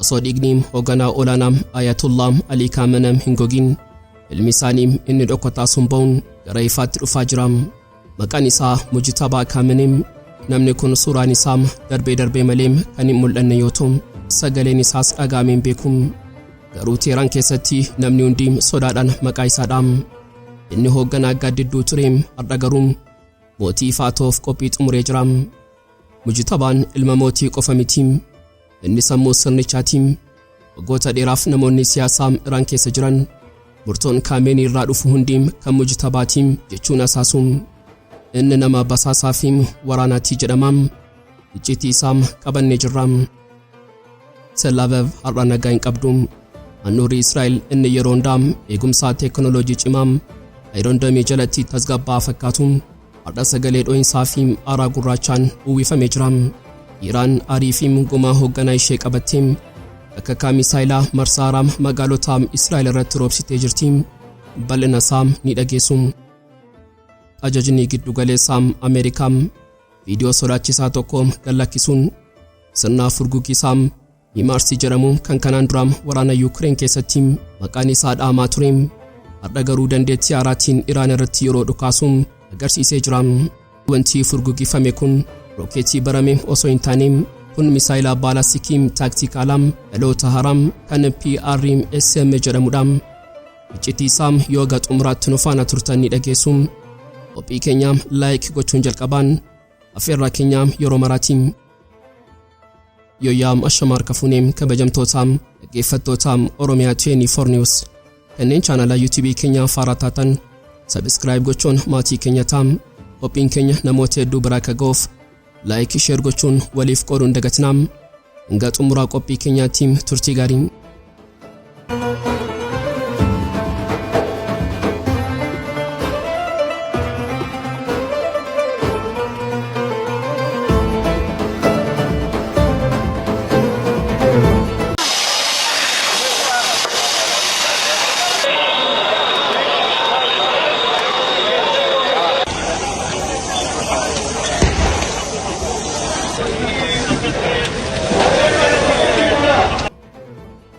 osoo dhiigni hoogganaa olaanaa Ayatullah Alii Kaamenam hin gogin ilmi isaanii inni dhokataa sun ba'uun gara ifaatti dhufaa jira. Maqaan isaa Mujtabaa Kaamenem namni kun suuraan isaa darbee darbee malee kan hin mul'anne yoo ta'u sagaleen isaas dhaga'amee hin beeku. Garuu Teeraan keessatti namni hundi sodaadhaan maqaa isaa dhaama. Inni hoogganaa gaaddidduu ture har'a garuu mootii ifaa ta'uuf qophii xumuree jira. Mujtabaan ilma mootii qofa miti. Inni sammuu sirnichaati. Waggoota dheeraaf namoonni siyaasaa Iraan keessa jiran murtoon Kaameenii irraa dhufu hundi kan mujtabaati jechuun asaasu. Inni nama basaasaa fi waraanaati jedhama. Icciitii isaa qabannee jirra. Sellaavev har'a nagaa hin qabdu. Handhuurri Israa'el inni yeroo hundaa eegumsaa teekinooloojii cimaa Ayiroon Damii jalatti tasgabbaa fakkaatu har'a sagalee dho'insaa fi aaraa gurraachaan uwwifamee jira. Iraan aarii fi gumaa hoogganaa ishee qabatte akka kaa misaayilaa marsaa haaraa magaalota Israa'el irratti roobsitee jirti. Bal'ina isaa ni dhageessu. Ajajni giddugaleessaa Ameerikaa Viidiyoo sodaachisaa tokko gad lakkisuun sirna furguggisaa Himaarsi jedhamu kan kanaan dura waraana Yuukireen keessatti maqaan isaa dhaamaa ture har'a garuu dandeettii haaraatiin Iraan irratti yeroo dhukaasu agarsiisee jira. Wanti furguggifame kun rookeetii barame osoo hin taane kun misaayila baalastikii taaktikaalaa dhaloota haaraa kan PRSM jedhamudha. Iccitii isaa yoo haga xumuraatti nu faana turtan ni dhageessu. Qophii keenya like gochuun jalqabaan affeerraa keenya yeroo maraati. Yoyaa ashama harka fuunee kabajamtoota dhaggeeffattoota Oromiyaa 24 News kanneen chaanala YouTube keenya faaraa taatan subscribe gochuun maatii keenya ta'a. Qophiin keenya namoota hedduu biraa akka ga'uuf Like share gochuun waliif qooduun dagatinaa. Hanga xumuraa qophii keenyaatti turtii gaarii.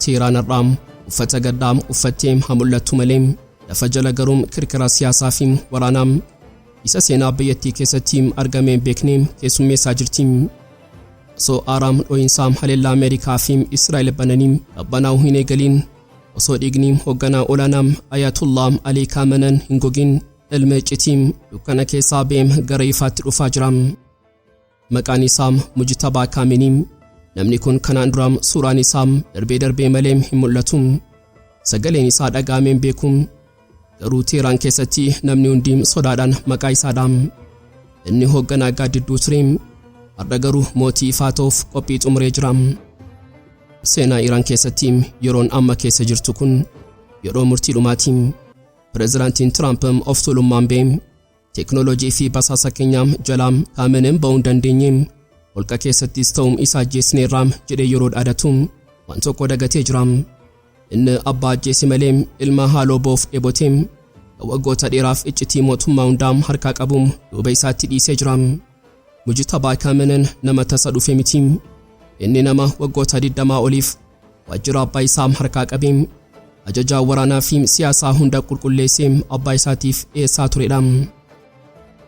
Seeraan har'aa uffata gaddaa uffattee haa mul'attu malee lafa jala garuu kirkira siyaasaa fi waraanaa isa seenaa biyyattii keessatti argamee hin beekne keessummeessaa jirti. Osoo aaraam dho'insaa haleellaa Ameerikaa fi Israa'el bananii qabbanaa'uu hin eegaliin osoo dhiigni hoogganaa olaanaa Ayatollah Alii Kaamenan hin gogin Ilma iccitii dukkana keessaa beem gara ifaatti dhufaa jira. Maqaan isaa Mujtabaa Kaaminii. Namni kun kanaan dura suuraan isaa darbee darbee malee hin mul'atu. Sagaleen isaa dhaga'amee hin beeku. Garuu Teeraan keessatti namni hundi sodaadhaan maqaa isaa dhaam. Inni hoogganaa gaaddidduu ture. Har'a garuu mootii ifaa ta'uuf qophii xumuree jira. Seenaa Iraan keessatti yeroon amma keessa jirtu kun yeroo murtii dhumaati. Pirezidaantiin Tiraamp of tuulummaan bee teeknooloojii fi basaasa keenyaa jalaa kaamenen ba'uu hin dandeenye holqa keessattis ta'u isa ajjeesneerra jedhee yeroo dhaadatu waan tokko dagatee jira. Inni abbaa ajjeese malee ilma haaloo ba'uuf dheebote kan waggoota dheeraaf iccitii mootummaa hundaa harkaa qabu duuba isaatti dhiisee jira. Mujitabaa kaamenen nama tasa dhufe miti. Inni nama waggoota 20 oliif Waajjira abbaa isaa harkaa qabee ajajaa waraanaa fi siyaasaa hunda qulqulleessee abbaa isaatiif dhiyeessaa turedha.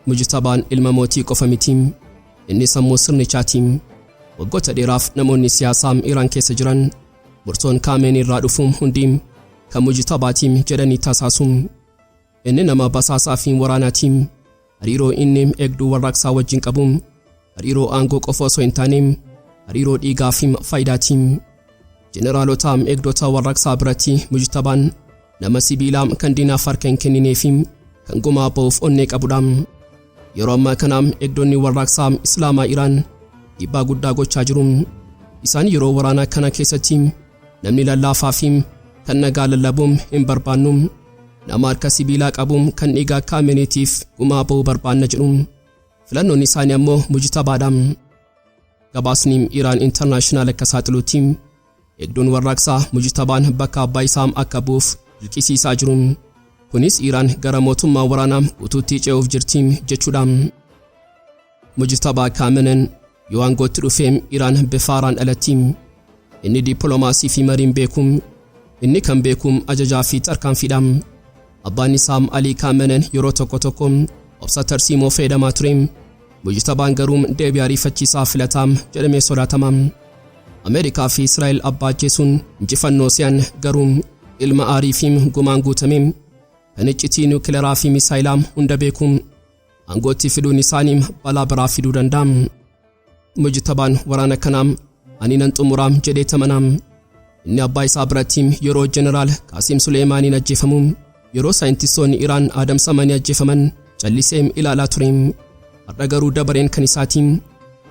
Mujtabaan ilma mootii qofa miti. Inni sammuu sirnichaati. Waggoota dheeraaf namoonni siyaasaa Iraan keessa jiran murtoon Kaameenii irraa dhufu hundi kan Mujtabaati jedhanii tasaasuun. Inni nama basaasaa fi waraanaati. Hariiroo inni eegduu warraaqsaa wajjin qabu hariiroo aangoo qofa osoo hin taane hariiroo dhiigaa fi faayidaati. Jeneraalota eegdota warraaqsaa biratti mujtabaan nama sibiilaa kan diinaaf harka hin kenninee fi kan gumaa ba'uuf onnee qabudha. Yeroo ammaa kana eegdonni warraaqsaa Islaamaa Iraan dhiibbaa guddaa gochaa jiru. Isaan yeroo waraanaa kana keessatti namni lallaafaa fi kan nagaa lallabuun hin barbaannu Nama harka sibiilaa qabu kan dhiiga akka Ameneetiif gumaa ba'uu barbaanna jedhu. Filannoon isaanii ammoo mujtabaadha. Gabaasni Iraan Intarnaashinaal akka saaxiluutti hedduun warraaqsaa mujtabaan bakka abbaa isaa akka bu'uuf dirqisiisaa jiru. Kunis Iraan gara mootummaa waraanaa guutuutti ce'uuf jirti jechuudha. Mujtabaa Kaamenen yoo aangootti dhufe Iraan bifa haaraan dhalatti. Inni dippiloomaasii fi mariin beeku. Inni kan beeku ajajaa fi tarkaanfiidha. Abbaan isaa Alii Kaamenen yeroo tokko tokko obsa tarsiimoo fayyadamaa ture. Mujtabaan garuu deebii ariifachiisaa filataa jedhamee sodaatama. Ameerikaa fi Israa'el abbaa ajjeesuun injifannoo se'an garuu ilma aarii fi gumaan guutame kan iccitii niwukilaraa fi misaayilaa hunda beeku Aangootti fiduun isaanii balaa biraa fiduu danda'a. Mujtabaan waraana kanaa ani nan xumuraa jedhee tamanaam. Inni abbaa isaa biratti yeroo jeneraal Qaasiim Suleeymaaniin ajjeefamu yeroo saayintistoonni Iraan adamsamanii ajjeefaman callisee ilaalaa ture. Har'a garuu dabareen kan isaatiin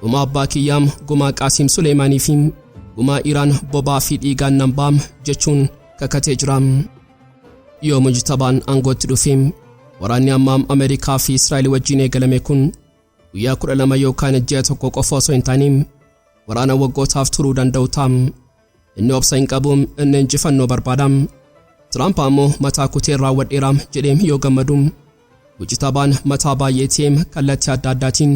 gumaa abbaa kiyyaam gumaa Qaasiim Suleeymaanii fi gumaa Iraan bobaa fi dhiigaan nan baam jechuun kakatee jira. Yoo mujtabaan aangootti dhufe waraanni ammaam Ameerikaa fi Israa'el wajjin eegalame kun guyyaa 12 yookaan ji'a tokko qofa osoo hin taane waraana waggootaaf turuu danda'u ta'a. Inni obsa hin qabu, inni injifannoo barbaada. Tiraamp ammoo mataa kuteen raawwadheera jedhee yoo gammadu Mujtabaan mataa baay'eetee kallattii adda addaatiin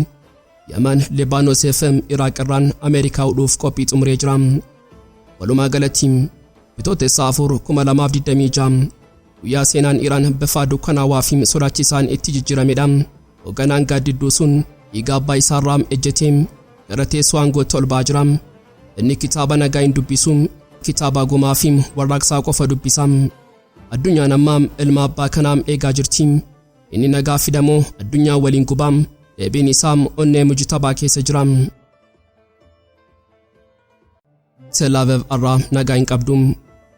Yaman, Libaanos fi Iraaq irraan Ameerikaa hudhuuf qophii xumuree jira. Walumaa galatti Bitootessa 4 2026 guyyaa seenaan Iraan bifa dukkanaawaa fi sodaachisaan itti jijjiiramedha. Hogganaan gaaddidduu sun dhiiga abbaa isaarraa ejjetee gara teessoo aangootti ol ba'aa jira. Inni kitaaba nagaa hin dubbisu, kitaaba gumaa fi warraaqsaa qofa dubbisa. Addunyaan amma ilma abbaa kanaa eegaa jirti. Inni nagaa fida moo addunyaa waliin guba? Deebiin isaa onnee mujitabaa keessa jira. Telaavev arraa nagaa hin qabdu.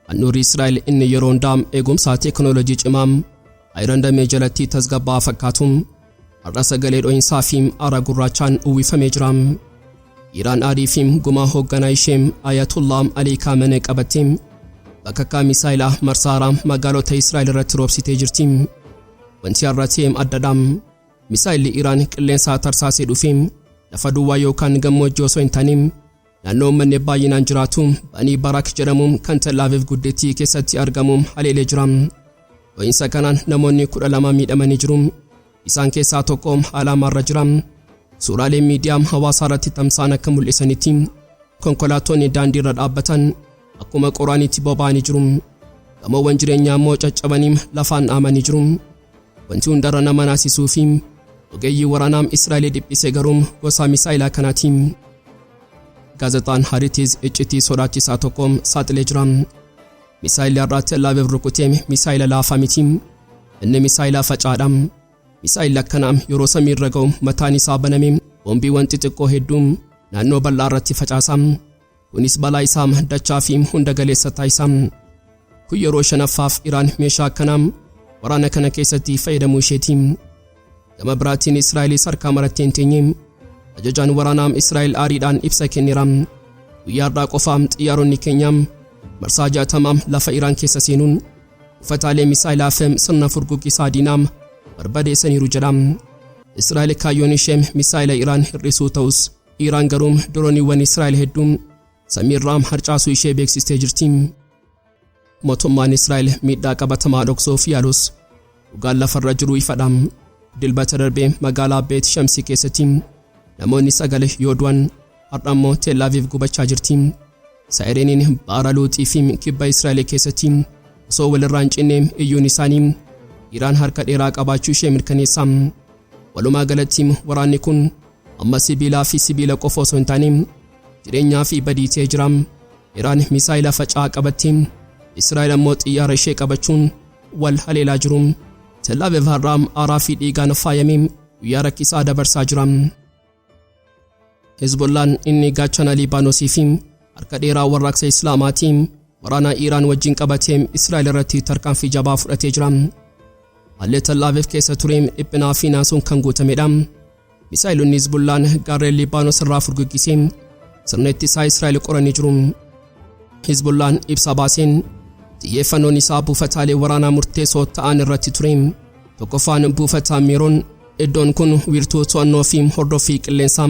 Handhuurri Israa'el inni yeroo hundaa eegumsaa teekinooloojii cimaa Ayirandamee jalatti tasgabbaa'aa fakkaatu. Har'a sagalee dho'insaa fi aara gurraachaan uwwifamee jira. Iraan aarii fi gumaa hoogganaa ishee Ayatollah Alii Kaamenee qabattee bakakkaa misaayilaa marsaa haaraa magaalota Israa'el irratti roobsitee jirti. Wanti har'a ta'e addadha. Misaayilli Iraan qilleensaa tarsaasee dhufe lafa duwwaa yookaan gammoojjii osoo hin taane Naannoo uummanni baay'inaan jiraatu Banii Baraak jedhamu kan Tel Aviv guddittii keessatti argamu haleelee jira. Dho'insa kanaan namoonni kudha lama miidhamanii jiru. Isaan keessaa tokko haala hamaarra jira. Suuraaleen miidiyaa hawaasaa irratti tamsa'an akka mul'isanitti konkolaattonni daandii irra dhaabbatan akkuma qoraaniitti boba'anii jiru. Gamoowwan jireenyaa immoo caccabanii lafaan dhaamanii jiru. Wanti hundarra nama naasisuu fi ogeeyyii waraanaa Israa'el dhiphise garuu gosa misaa'ilaa kanaati. Gaazexaan Haritis iccitii sodaachisaa tokko saaxilee jira. Misaa'illi har'aa Tel Aviv rukute misaa'ila laafaa miti. Inni misaa'ila facaadha. Misaa'illi akkanaa yeroo samii irra ga'u mataan isaa baname boombiiwwan xixiqqoo hedduu naannoo bal'aa irratti facaasa. Kunis balaa isaa dachaa fi hunda galeessa taasisa. Kun yeroo shanaffaaf Iraan meeshaa akkanaa waraana kana keessatti fayyadamuu isheeti. Gama biraatiin Israa'elis harkaa marattee hin teenye. Ajajaan waraanaa Israa'el aariidhaan ibsa kenneera. Guyyaa har'aa qofaa xiyyaaronni keenya marsaa jaatamaa lafa Iraan keessa seenuun buufataalee misaayilaa fi sirna furguggisaa diinaa barbadeessaniiru jedha. Israa'el kaayyoon ishee misaayila Iraan hir'isuu ta'us Iraan garuu dirooniiwwan Israa'el hedduu samiirraa harcaasuu ishee beeksistee jirti. Mootummaan Israa'el miidhaa qabatamaa dhoksuuf yaalus dhugaan lafarra jiru ifadha. Dilbata darbee magaalaa Beet Shamsii keessatti namoonni sagal yoo du'an har'a immoo Tel Aviv gubachaa jirti. Saayireniin baara luuxii fi kibba Israa'el keessatti osoo walirraa hin cinne iyyuun isaanii Iraan harka dheeraa qabaachuu ishee mirkaneessa. Walumaa galatti waraanni kun amma sibiilaa fi sibiila qofa osoo hin taane jireenyaa fi badii ta'ee jira. Iraan misaayila faca'aa qabatti, Israa'el ammoo xiyyaara ishee qabachuun wal haleelaa jiru. Tellaaviv har'aa aaraa fi dhiigaan faayamee guyyaa rakkisaa dabarsaa jira. Hezbollaan inni gaachana Liibaanosii fi harka dheeraa warraaqsa Islaamaatii waraanaa Iiraan wajjin qabatee Israa'el irratti tarkaanfii jabaa fudhatee jira. Haalli Tel Aviv keessa ture dhiphinaa fi naasuun kan guutamedha. Misaa'elonni Hezbollaan gaarreen Liibaanos irraa furguggisee sirna ittisaa Israa'el qoranii jiru. Hezbollaan ibsa baaseen xiyyeeffannoon isaa buufataalee waraanaa murteessoo ta'an irratti ture. Tokkoffaan buufataa Meeroon Iddoon kun wiirtuu to'annoo fi hordoffii qilleensaa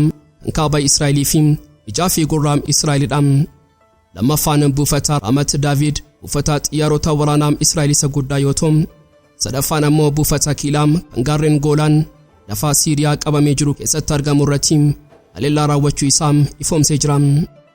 kaaba Israa'elii fi ijaa fi gurraa Israa'elidha. Lammaffaan buufata Raamat Daavid buufata xiyyaarota waraanaa Israa'el isa guddaa yoo ta'u, sadaffaan ammoo buufata Kiilaa kan gaarreen Goolaan lafa Siiriyaa qabamee jiru keessatti argamu irratti haleellaa raawwachuu isaa ifoomsee jira.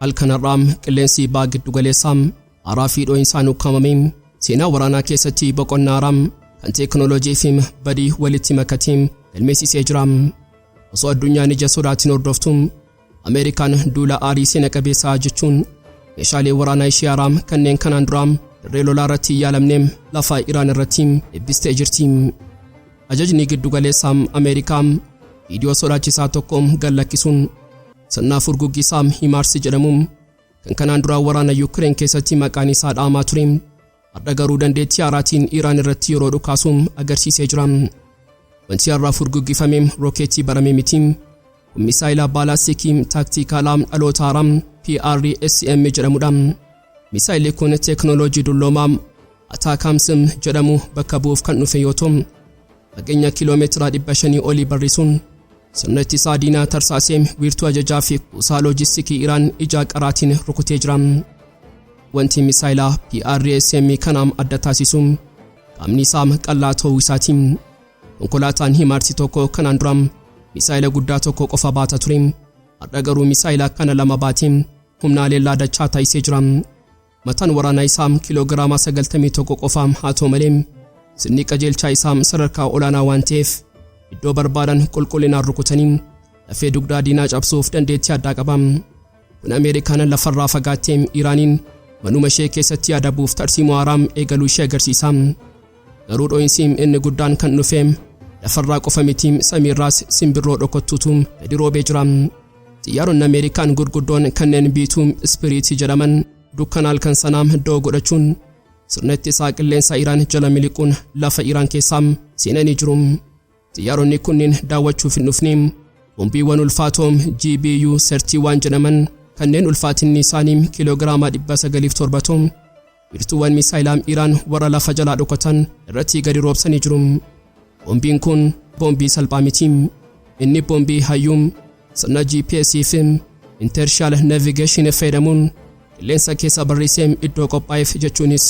Halkan har'aa qilleensi baha giddu galeessaa haaraa fi dhoo'insaan ukkaamame seenaa waraanaa keessatti boqonnaa haaraa kan teekinooloojii fi badii walitti makatiin galmeessisee jira. Osoo addunyaan ija sodaatiin hordoftu Ameerikaan duula aarii seena qabeessaa jechuun meeshaalee waraanaa ishee haaraa kanneen kanaan duraa dirree lolaa irratti hin yaalamne lafa Iraan irratti eebbistee jirti. Ajajni giddu galeessaa Ameerikaa viidiyoo sodaachisaa tokko gad lakkisuun Sirna furguggii Saam Himaarsi jedhamu kan kanaan duraa waraana Yukireen keessatti maqaan isaa dhaamaa ture har'a garuu dandeettii haaraatiin Iraan irratti yeroo dhukaasu agarsiisee jira. Wanti har'aa furguggifame rookeetii baramee miti. Kun misaayila baalaastikii taaktiikaalaa dhaloota haaraa PRSM jedhamudha. Misaayilli kun teeknooloojii dulloomaa Ataakaamsim jedhamu bakka bu'uuf kan dhufe yoo ta'u fageenya kiiloomeetira 500 olii barrisuun sirna ittisaa diinaa tarsaaseem wiirtuu ajajaa fi kuusaa loojistikii Iraan ijaa qaraatiin rukutee jira. Wanti misaayila PRSM kanaam adda taasisu qaamni isaa qal'aa ta'uu isaati. Konkolaataan himaarsi tokko kanaan dura misaayila guddaa tokko qofa baata ture. Har'a garuu misaayila kana lama baatee humna haleellaa dachaa taasisee jira. Mataan waraanaa isaa kiloogiraama 91 qofa haa ta'u malee sirni qajeelchaa isaa sadarkaa olaanaa waan ta'eef iddoo barbaadan qulqullinaan rukutanii lafee dugdaa diinaa cabsuuf dandeettii addaa qaba. Kun Ameerikaan lafarraa fagaattee Iraaniin manuma ishee keessatti adabuuf tarsiimoo haaraa eegaluu ishee agarsiisa. Garuu dho'iinsi inni guddaan kan dhufe lafarraa qofa miti samiirraas simbirroo dhokottuutu gadi roobee jira. Xiyyaaronni Ameerikaan gurguddoon kanneen biituu ispiriitii jedhaman dukkana halkan sanaa doo godhachuun sirna ittisaa qilleensaa Iraan jala miliquun lafa Iraan keessaa seenanii jiru. Xiyyaaronni kunniin daawwachuuf hin dhufne bombiiwwan ulfaatoo GBU-31 jedhaman kanneen ulfaatinni isaanii kiiloogiraamaa 970 Wiirtuuwwan misaayilaa Iraan warra lafa jalaa dhokatan irratti gadi roobsanii jiru. Boombiin kun boombii salphaa miti. Inni boombii hayyuu sirna GPS fi Intershal Navigation fayyadamuun qilleensa keessa barreessee iddoo qophaa'eef jechuunis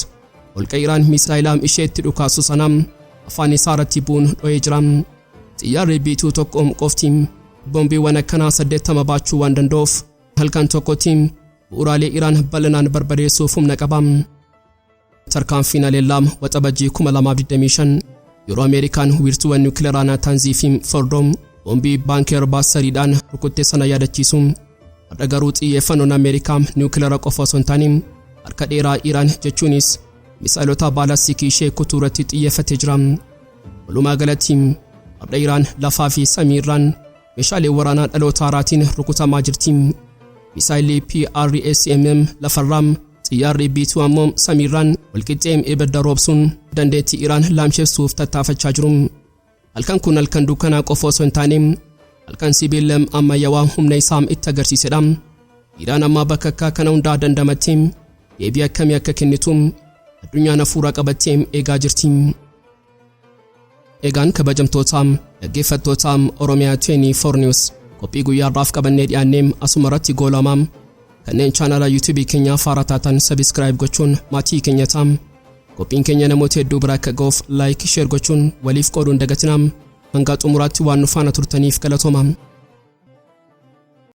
holqa Iraan misaayilaa ishee itti dhukaasu sana afaan isaa irratti bu'uun dho'ee jira. Xiyyaarri biituu tokko qofti boombiiwwan akkanaa 80 baachuu waan danda'uuf halkan tokkotti Bu'uuraalee Iraan bal'inaan barbadeessuuf humna qaba. Tarkaanfiin haleellaa Waxabajjii 2025 yeroo Ameerikaan wiirtuuwwan niwukilaraa Naataanzii fi Fordoo boombii baankeer baasariidhaan rukutte sana yaadachiisu. Har'a garuu xiyyeeffannoon Ameerikaa niwukilara qofa osoo hin taane harka dheeraa Iraan jechuunis misaa'ilota baalastikii ishee kutuu irratti xiyyeeffatee jira. Walumaa galatti har'a Iraan lafaa fi samii irraan Meeshaalee waraanaa dhaloota haaraatiin rukutamaa jirti. Misaayilli PRSMM lafarraa, xiyyaarri B2 ammoo samiirraan walqixxee ibidda roobsuun dandeettii Iraan laamshessuuf tattaafachaa jiru. Halkan kun halkan dukkanaa qofa osoo hin taane halkan sibiila ammayyawaa humna isaa itti agarsiisedha. Iraan ammaa bakka akka kana hundaa dandamattee deebii akkamii akka kennitu addunyaan hafuura qabattee eegaa jirti. Egaan kabajamtoota dhaggeeffattoota Oromiyaa 24 News qophii guyyaa har'aaf qabannee dhiyaannee asuma irratti goolamaa kanneen chaanala YouTube keenyaa faara taatan subscribe gochuun maatii keenya taam qophiin keenya namoota hedduu bira akka ga'uuf like share gochuun waliif qooduun dagatinaam hanga xumuraatti waan nu faana turtaniif galatooma.